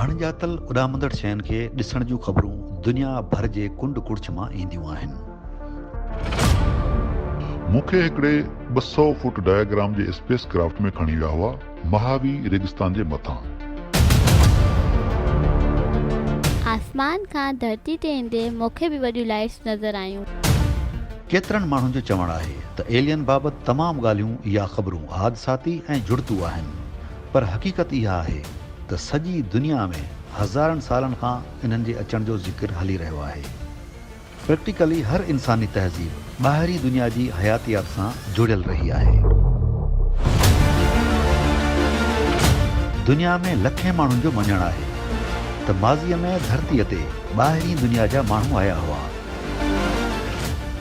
اڻڄاتل اڏامندڙ شين کي ڏسڻ جون خبرون دنيا ڀر جي ڪنڊ ڪڙڇ مان اينديون آهن. مون کي هڪڙي ٻه سؤ فوٽ ڊايا گرام جي اسپيس ڪرافٽ ۾ کڻي ويا هئا مهاوي ريگستان جي مٿان. آسمان کان ڌرتي تي ايندي مون کي به وڏيون لائيٽس نظر آيون. ڪيترن ماڻهن جو چوڻ آهي ته ايلين بابت تمام ڳالهيون يا خبرون حادثاتي ۽ جڙتو آهن، پر حقيقت اها آهي ته سڄي دنيا ۾ هزارن سالن کان انهن جي اچڻ جو ذڪر هلي رهيو آهي. پريڪٽيڪلي هر انساني تهذيب ٻاهرين دنيا جي حياتيات سان جڙيل رهي آهي. دنيا ۾ لکين ماڻهن جو مڃڻ آهي ته ماضيء ۾ ڌرتيء تي ٻاهرين دنيا جا ماڻهو آيا هئا.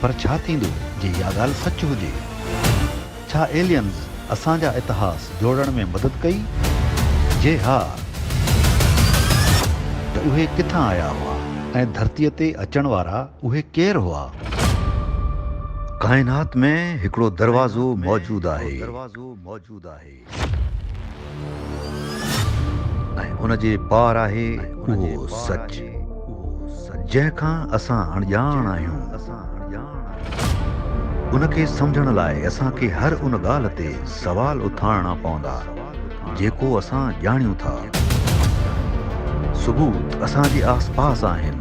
پر ڇا ٿيندو جي اها ڳالهه سچ هجي؟ ڇا ايليئنز اسان جا اتهاس جوڙڻ ۾ مدد ڪئي؟ جي ها ته اهي ڪٿان آيا هئا ۽ ڌرتيء تي اچڻ وارا اهي ڪير هئا؟ ڪائنات ۾ هڪڙو دروازو موجود آهي. ۽ ان جي پار آهي اهو سچ، جنهن کان اسان اڻڄاڻ آهيون. ان کي سمجهڻ لاء اسان کي هر ان ڳالهه تي سوال اٿارڻا پوندا، جيڪو اسان ڄاڻيون ٿا. ثبوت اسان جي آس پاس آهن.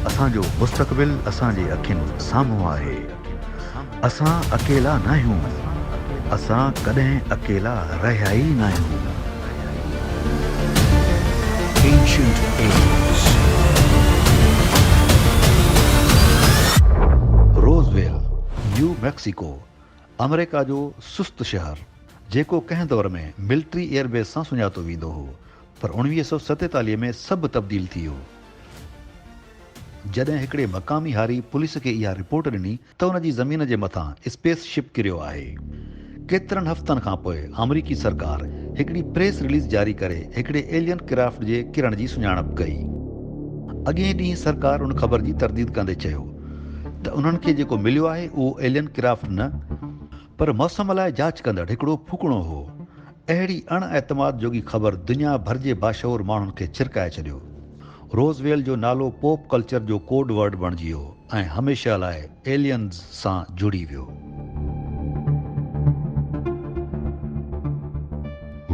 اسان جو مستقبل اسان جي اکين سامهون آهي. اسان اڪيلا ناهيون. اسان ڪڏهن اڪيلا رهيا ئي ناهيون. Ancient Aliens Roswell, New Mexico, آمريڪا جو سست شهر، جيڪو ڪنهن دور ۾ ملٽري ايئر بيس سان سڃاتو ويندو هو، پر اوڻويهه سؤ ستيتاليهه ۾ سڀ تبديل ٿي ويو جڏهن هڪڙي مقامي هاري پوليس کي اها رپورٽ ڏني ته ان جي زمين جي مٿان اسپيس شپ ڪريو آهي. ڪيترن هفتن کان پوء آمريڪي سرڪار هڪڙي پريس رليز جاري ڪري هڪڙي ايلين ڪرافٽ جي ڪرڻ جي سڃاڻپ ڪئي. اڳئين ڏينهن سرڪار ان خبر جي ترديد ڪندي چيو ته انهن کي جيڪو مليو آهي اهو ايلين ڪرافٽ نه پر موسم لاء جاچ ڪندڙ هڪڙو ڦوڪڻو هو اهڙي اڻ اعتماد جوڳي خبر دنيا ڀر جي باشعور ماڻهن کي ڇرڪائي ڇڏيو. روز ويل جو نالو پوپ ڪلچر جو ڪوڊ ورڊ بڻجي ويو ۽ هميشه لاء ايليئنز سان جڙي ويو.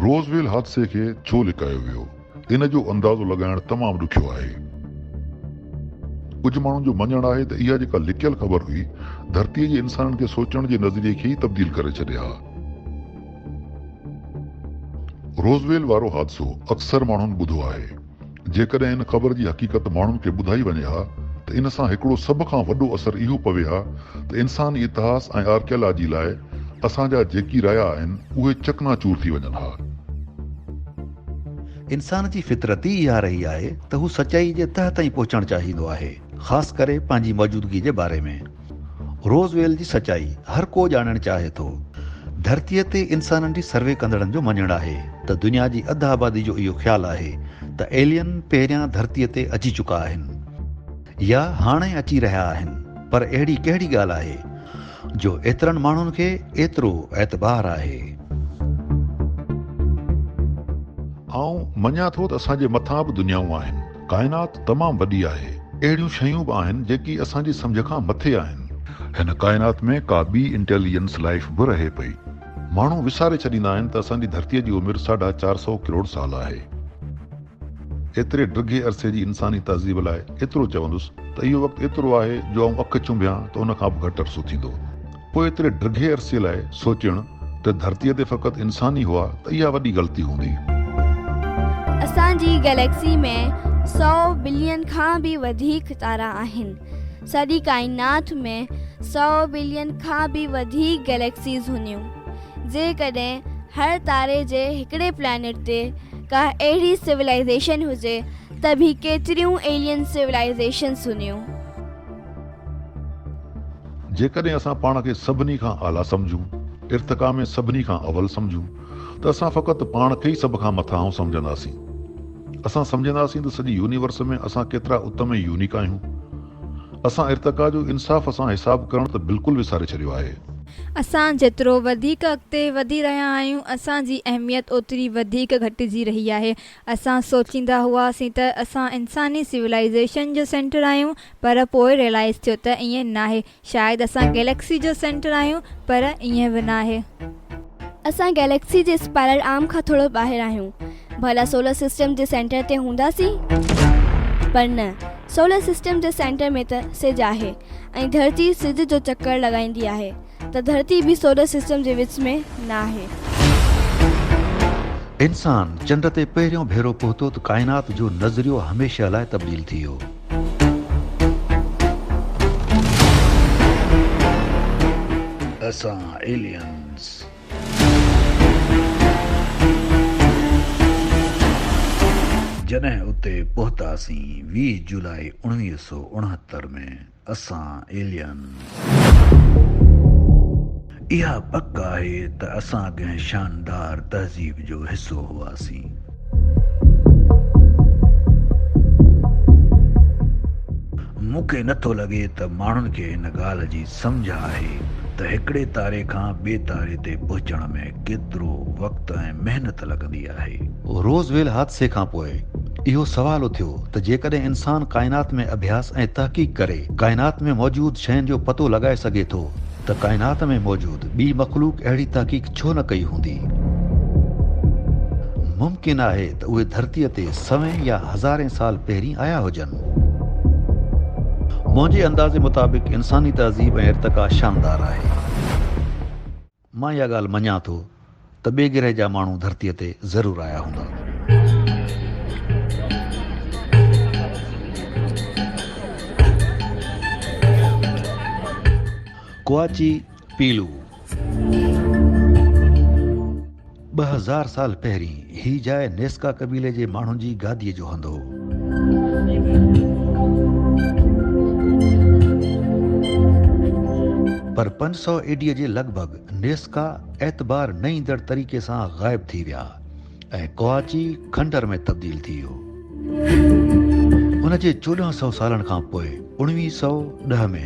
روز ويل حادثي کي ڇو لڪايو ويو؟ ان جو اندازو لڳائڻ تمام ڏکيو آهي. ڪجهه ماڻهن جو مڃڻ آهي ته اها جيڪا لڪيل خبر هئي، ڌرتيء جي انسانن کي سوچڻ جي نظريي کي ئي تبديل ڪري ڇڏي ها. روزويل وارو حادثو اڪثر ماڻهن ٻڌو آهي. جيڪڏهن ان خبر جي حقيقت ماڻهن کي ٻڌائي وڃي ها ته ان سان هڪڙو سڀ کان وڏو اثر اهو پوي ها ته انساني اتهاس ۽ آرڪيالاجي لاء اسان جا جيڪي رايا آهن، اهي چڪنا چور ٿي وڃن ها. انسان جي فطرت ئي اها رهي آهي ته هو سچائي جي تهه تائين پهچڻ چاهيندو آهي، خاص ڪري پنهنجي موجودگي جي باري ۾. روز ويل جي سچائي هر ڪو ڄاڻڻ چاهي ٿو. ڌرتيء تي انسانن جي سروي ڪندڙن جو مڃڻ آهي ته دنيا جي اڌ آبادي جو اهو خيال آهي ته ايلين پهريان ڌرتيء تي اچي چڪا آهن يا هاڻي اچي رهيا آهن پر اهڙي ڪهڙي ڳالهه آهي جو ايترن ماڻهن کي ايترو اعتبار آهي. آئون مڃان ٿو ته اسان جي مٿان به دنيائون آهن. ڪائنات تمام وڏي آهي. اهڙيون شيون به آهن جيڪي اسان جي سمجهه کان مٿي آهن. هن ڪائنات ۾ ڪا ٻي انٽيليجنس لائيف به رهي پئي. ماڻهو وساري ڇڏيندا آهن ته اسان جي ڌرتيء جي عمر ساڍا چار سؤ ڪروڙ سال آهي. ايتري ڊگهي عرصي جي انساني تهذيب لاء ايترو چوندس ته اهو وقت ايترو آهي جو آئون اک چنبيان ته ان کان به گهٽ عرصو ٿيندو. پوء ايتري ڊگهي عرصي لاء سوچڻ ته ڌرتيء تي فقط انسان ئي هئا ته اها وڏي غلطي هوندي. اسان جي گئليڪسي ۾ سؤ بلين کان به وڌيڪ تارا آهن. سڄي ڪائنات ۾ سؤ بلين کان به وڌيڪ گئليڪسيز هونديون. جيڪڏهن هر تاري جي هڪڙي پلانيٽ تي ڪا اهڙي سولائيزيشن هجي ته به ڪيتريون ايلين سولائيزيشنس هونديون. جيڪڏهن اسان پاڻ کي سڀني کان اعليٰ سمجهون، ارتقا ۾ سڀني کان اول سمجهون ته اسان فقط پاڻ کي ئي سڀ کان مٿانهون سمجهنداسين. اسان سمجهنداسين ته سڄي يونيورس ۾ اسان ڪيترا اتم ۽ يونيڪ آهيون. اسان ارتقا جو انصاف سان حساب ڪرڻ ته بلڪل وساري ڇڏيو آهي. اسان جيترو وڌيڪ اڳتي وڌي رهيا آهيون، اسان جي اهميت اوتري وڌيڪ گهٽجي رهي آهي. اسان سوچيندا هئاسين ته اسان انساني سولائيزيشن جو سينٽر آهيون، پر پوء ريلائيز ٿيو ته ائين ناهي. شايد اسان گيليڪسي جو سينٽر آهيون، پر ائين به ناهي. اسان گئليڪسي جي اسپائرل آرم کان ٿورو ٻاهر آهيون. ڀلا سولر سسٽم جي سينٽر تي هونداسين؟ پر نه، سولر سسٽم جي سينٽر ۾ ته سج آهي ۽ ڌرتي سج جو چڪر لڳائيندي آهي ته ڌرتي به سولر سسٽم جي وچ ۾ نه آهي. انسان چنڊ تي پهريون ڀيرو پهتو ته ڪائنات جو نظريو هميشه لاء تبديل ٿي ويو. اسان ايلينز. جڏهن اتي پهتاسين ويهه جولاء اوڻويهه سؤ اڻهتر ۾ اسان ايلين. اها پڪ آهي ته اسان ڪنهن شاندار تهذيب جو حصو هئاسين. مون کي نه ٿو لڳي ته ماڻهن کي هن ڳالهه جي سمجهه آهي ته هڪڙي تاري کان ٻئي تاري تي پهچڻ ۾، ڪيترو وقت ۽ محنت لڳندي آهي؟ روز ويل حادثي کان پوء اهو سوال اٿيو ته جيڪڏهن انسان ڪائنات ۾ اڀياس ۽ تحقيق ڪري ڪائنات ۾ موجود شين جو پتو لڳائي سگهي ٿو ته ڪائنات ۾ موجود ٻي مخلوق اهڙي تحقيق ڇو نه ڪئي هوندي؟ ممڪن آهي ته اهي ڌرتيء تي سوين يا هزارين سال پهرين آيا هجن. منهنجي اندازي مطابق انساني تهذيب ۽ ارتقا شاندار آهي. مان اها ڳالهه مڃان ٿو ته ٻئي گرهه جا ماڻهو ڌرتيء تي ضرور آيا هوندا. ڪواچي پيلو. ٻه هزار سال پهرين هي جاء نيسڪا قبيلي جي ماڻهن جي گاديء جو هنڌ هو. پر پنج سؤ اي ڊي جي لڳ ڀڳ نيسڪا اعتبار نه ايندڙ طريقي سان غائب ٿي ويا ۽ ڪواچي کنڊر ۾ تبديل ٿي ويو. ان جي چوڏهن سؤ سالن کان پوء اڻويهه سؤ ڏهه ۾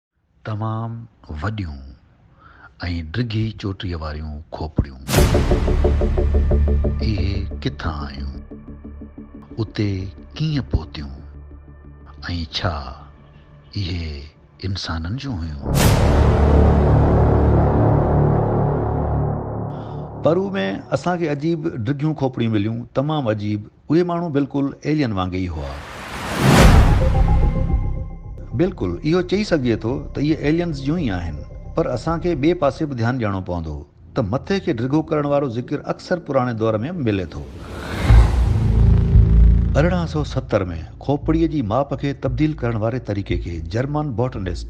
تمام وڏيون ۽ ڊگهي چوٽيء واريون کوپڙيون. اهي ڪٿان آيون؟ اتي ڪيئن پهتيون؟ ۽ ڇا اهي انسانن جون هيون؟ پرو ۾ اسان کي عجيب ڊگهيون کوپڙيون مليون، تمام عجيب. اهي ماڻهو بلڪل ايلين وانگي ئي هئا. بلڪل اهو چئي سگهجي ٿو ته اهي ايلينز جون ئي آهن. پر اسان کي ٻئي پاسي به ڌيان ڏيڻو پوندو ته مٿي کي ڊگهو ڪرڻ وارو ذڪر اڪثر پراڻي دور ۾ به ملي ٿو. ارڙهن سؤ ستر ۾ کوپڙيء جي ماپ کي تبديل ڪرڻ واري طريقي کي جرمن باٽنسٽ،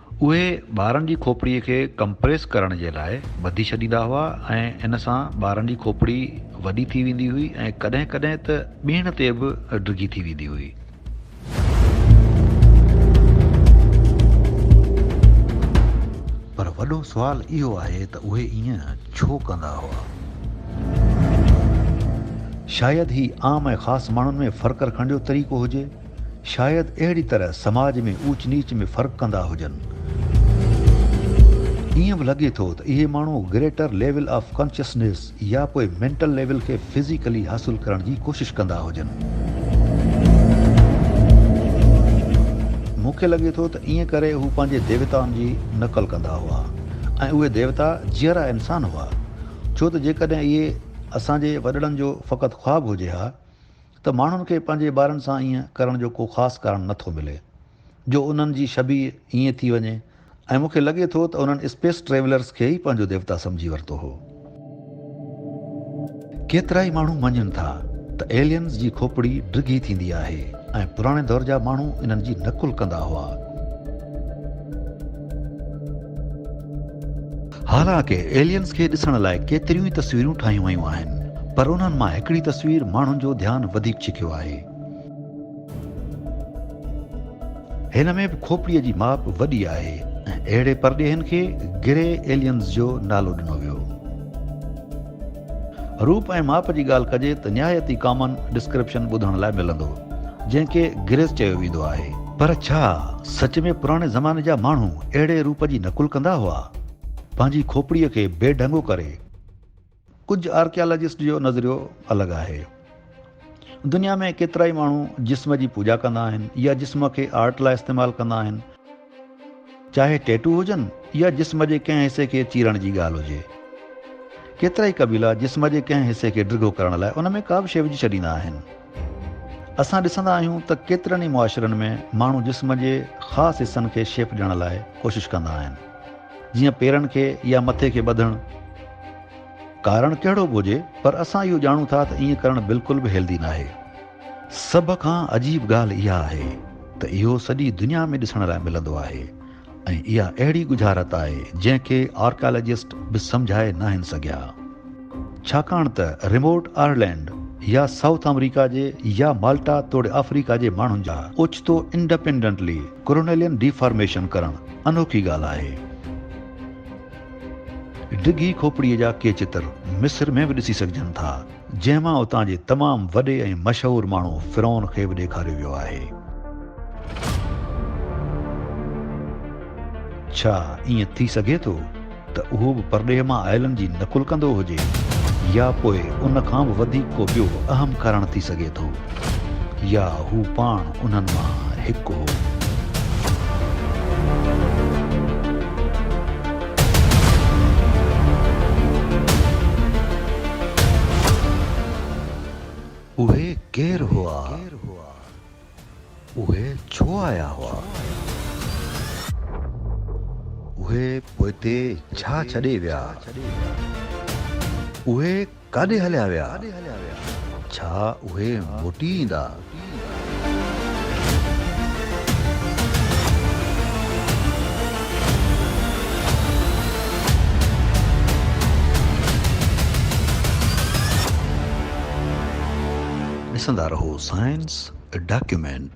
اهي ٻارن جي کوپڙي کي ڪمپريس ڪرڻ جي لاء ٻڌي ڇڏيندا هئا ۽ ان سان ٻارن جي کوپڙي وڏي ٿي ويندي هئي ۽ ڪڏهن ڪڏهن ته ٻيڻ تي به ڊگهي ٿي ويندي هئي. پر وڏو سوال اهو آهي ته اهي ائين ڇو ڪندا هئا؟ شايد هي عام ۽ خاص ماڻهن ۾ فرق رکڻ جو طريقو هجي. شايد اهڙي طرح سماج ۾ اوچ نيچ ۾ فرق ڪندا هجن. ائين به لڳي ٿو ته اهي ماڻهو گريٽر ليول آف ڪانشسنيس يا پوء مينٽل ليول کي فزيڪلي حاصل ڪرڻ جي ڪوشش ڪندا هجن. مون کي لڳي ٿو ته ائين ڪري هو پنهنجي ديوتائن جي نقل ڪندا هئا ۽ اهي ديوتا جيئرا انسان هئا. ڇو ته جيڪڏهن اهي اسان جي وڏڙن جو فقط خواب هجي ها، ته ماڻهن کي پنهنجي ٻارن سان ائين ڪرڻ جو ڪو خاص ڪارڻ نه ٿو ملي جو انهن جي شبيهه ائين ٿي وڃي ۽ مون کي لڳي ٿو ته انهن اسپيس ٽريولرز کي ئي پنهنجو ديوتا سمجهي ورتو هو. ڪيترائي ماڻهو مڃين ٿا ته ايلينز جي کوپڙي ڊگهي ٿيندي آهي ۽ پراڻي دور جا ماڻهو انهن جي نقل ڪندا هئا. حالانڪ ايلينز کي ڏسڻ لاء ڪيتريون ئي تصويرون ٺاهيون ويون آهن پر انهن مان هڪڙي تصوير ماڻهن جو ڌيان وڌيڪ ڇڪيو آهي. هن ۾ به کوپڙيء جي ماپ وڏي آهي ۽ اهڙي پرڏيهين کي گري ايلينز جو نالو ڏنو ويو. روپ ۽ ماپ جي ڳالهه ڪجي ته نهايت ئي ڪامن ڊسڪرپشن ٻڌڻ لاء ملندو، جنهن کي گريس چيو ويندو آهي. پر ڇا سچ ۾ پراڻي زماني جا ماڻهو اهڙي روپ جي نقل ڪندا هئا؟ پنهنجي کوپڙيء کي بي ڍنگو ڪري؟ ڪجهه آرڪيالاجسٽ جو نظريو الڳ آهي. دنيا ۾ ڪيترائي ماڻهو جسم جي پوڄا ڪندا آهن يا جسم کي آرٽ لاء استعمال ڪندا آهن. چاهي ٽيٽو هجن يا جسم جي ڪنهن حصي کي چيرڻ جي ڳالهه هجي. ڪيترائي قبيلا جسم جي ڪنهن حصي کي ڊگهو ڪرڻ لاء ان ۾ ڪابه شيء وجهي ڇڏيندا آهن. اسان ڏسندا آهيون ته ڪيترن ئي معاشرن ۾ ماڻهو جسم جي خاص حصن کي شيپ ڏيڻ لاء ڪوشش ڪندا آهن. جيئن پيرن کي يا مٿي کي ٻڌڻ. ڪارڻ ڪهڙو به هجي پر اسان اهو ڄاڻون ٿا ته ائين ڪرڻ بلڪل به هيلڌي ناهي. سڀ کان عجيب ڳالهه اها آهي ته اهو سڄي دنيا ۾ ڏسڻ لاء ملندو آهي ۽ اها اهڙي ڳجهارت آهي جنهن کي آرڪيالاجسٽ به سمجهائي ناهن سگهيا ڇاڪاڻ ته ريموٽ آئرلينڊ يا سائوٿ آمريڪا جي يا مالٽا توڙي آفريڪا جي ماڻهن جا اوچتو انڊپينڊنٽلي ڪرونيلين ڊي فارميشن ڪرڻ انوکي ڳالهه آهي. ڊگهي کوپڙيء جا ڪي چتر مصر ۾ به ڏسي سگهجن ٿا. جنهن مان اتان جي تمام وڏي ۽ مشهور ماڻهو فرعون کي به ڏيکاريو ويو آهي. ڇا ائين ٿي سگهي ٿو ته اهو به پرڏيهه مان آيلن جي نقل ڪندو هجي يا پوء ان کان به وڌيڪ ڪو ٻيو اهم ڪارڻ ٿي سگهي ٿو يا هو پاڻ انهن مان هڪ هو. اهي ڪير هئا؟ اهي ڇو آيا هئا؟ اهي پوئتي ڇا ڇڏي ويا؟ اهي. ڪاڏي هليا ويا؟ ڇا اهي موٽي ايندا؟ ڏسندا رهو سائنس ڊاڪيومينٽ.